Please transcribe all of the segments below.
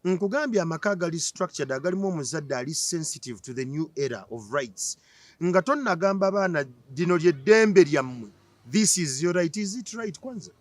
Nkugambye amaka agali structured agalimu omuzadde ali sensitive to the new era of rights nga tonnagamba abaana lino lyeddembe lyammwe this is your right is it right kwanza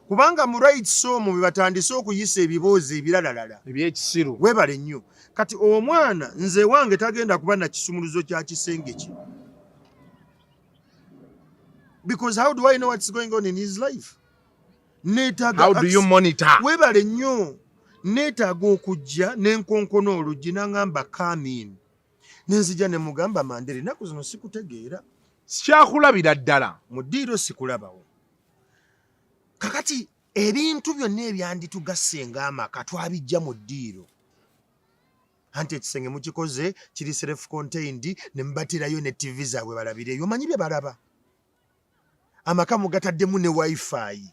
kubanga mu rights omwo bwe batandise okuyisa ebiboozi ebiralalala ebyekisiru webale nnyo kati omwana nze wange tagenda kuba na kisumuluzo kya kisenge kye because how do i know what's going on in his life webale nnyo neetaaga okujja nenkonkona oluggi nangamba kamin nenzija nemugamba mandere enaku zino sikutegeera sikyakulabira ddala mu ddiiro sikulabawo kakati ebintu byonna ebyanditugasse ngaamaka twabijja mu ddiiro anti ekisenge mukikoze kiri self contained ne mubatirayo ne ttivi zaabwe balabireyo omanyi bye balaba amaka mugataddemu ne wifi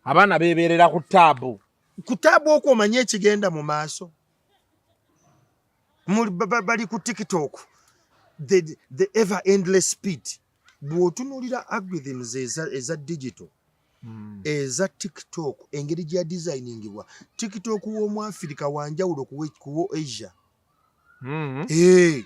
abaana beebeerera ku taabu ku taabu okwo omanye ekigenda mu maaso bali ku tiktok the, the ever endless speed bw'otunuulira algorithms eza, eza digital hmm. eza tiktok engeri gya designingibwa tiktok w'omu afirika wanjawulo kuwo asia mm -hmm. hey. Eh,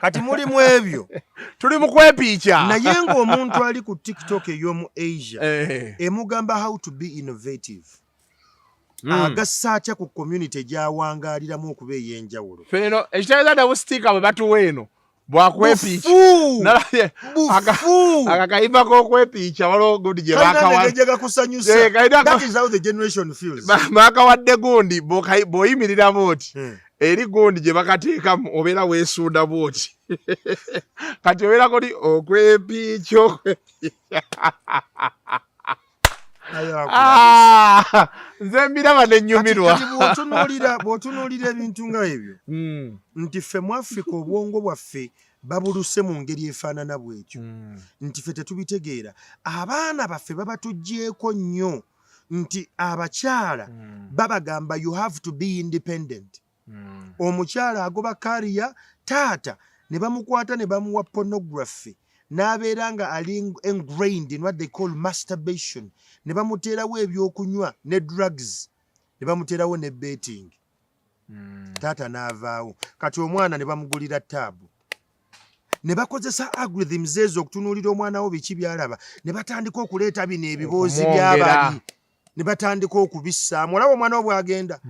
kati muli mu ebyo tuli mu kwepiica naye ng'omuntu ali ku tiktok ey'omu asia eh. emugamba how to be innovative hmm. agassa atya ku community gyawangaaliramu okuba ey'enjawulo feno ekitegeeza dabu sitiika bwe batuwa eno bwakwepiicaakakaiba kokwepiica waliwo gundi gyebakawadde gundi bwoyimiriramu oti hmm. eri gundi gye bakateekamu obeera weesuuda bwoti kati obeera kuli okwepiiki ah, nze mbiraba nenyumirwa bwotunuulira ebintu nga ebyo hmm. nti ffe mu afrika obwongo bwaffe babuluse mu ngeri efaanana bwekyo hmm. nti ffe tetubitegeera abaana baffe babatuggyeko nnyo nti abakyala mm. babagamba you have to be independent mm. omukyala agoba kariya taata ne bamukwata ne bamuwa pornography n'abeera nga ali engrained in what they call masturbation ne bamuteerawo ebyokunywa ne drugs ne bamuteerawo ne betting hmm. taata n'avaawo kati omwana ne bamugulira taabu ne bakozesa algorithms ezo okutunuulira omwana wo biki byalaba ne batandika okuleeta bino ebiboozi by'abali ne batandika okubissaamu olaba omwana wo bw'agenda